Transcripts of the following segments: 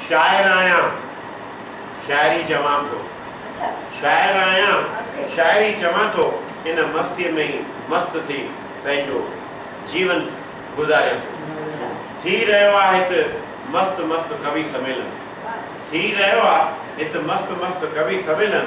شاعر آهيان شاعري چوان ٿو. شاعر آهيان شاعري چوان ٿو ان مستيء ۾ ئي مست ٿي پنهنجو جيون گذاريان ٿو. ٿي رهيو آ هت مست مست ڪوي سميلن. ٿي رهيو آ هت مست مست ڪوي سميلن.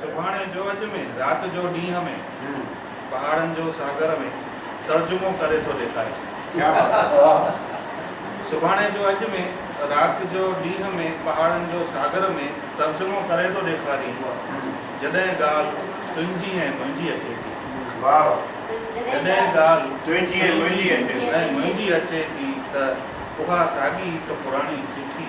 سڀاڻي جو اڄ ۾، رات جو ڏينهن ۾، پهاڙن جو ساگر ۾، ترجمو ڪري ٿو ڏيکاريان. ڪيا بات آهي واهه. سڀاڻي جو اڄ ۾، رات جو ڏينهن ۾، پهاڙن جو ساگر ۾، ترجمو ڪري ٿو ڏيکارين. جڏهن ڳالهه تنهنجي ۽ منهنجي اچي ٿي. واهه واهه. جڏهن ڳالهه تنهنجي ۽ منهنجي اچي ٿي. ۽ منهنجي اچي ٿي ته اها ساڳي هڪ پراڻي چٺي.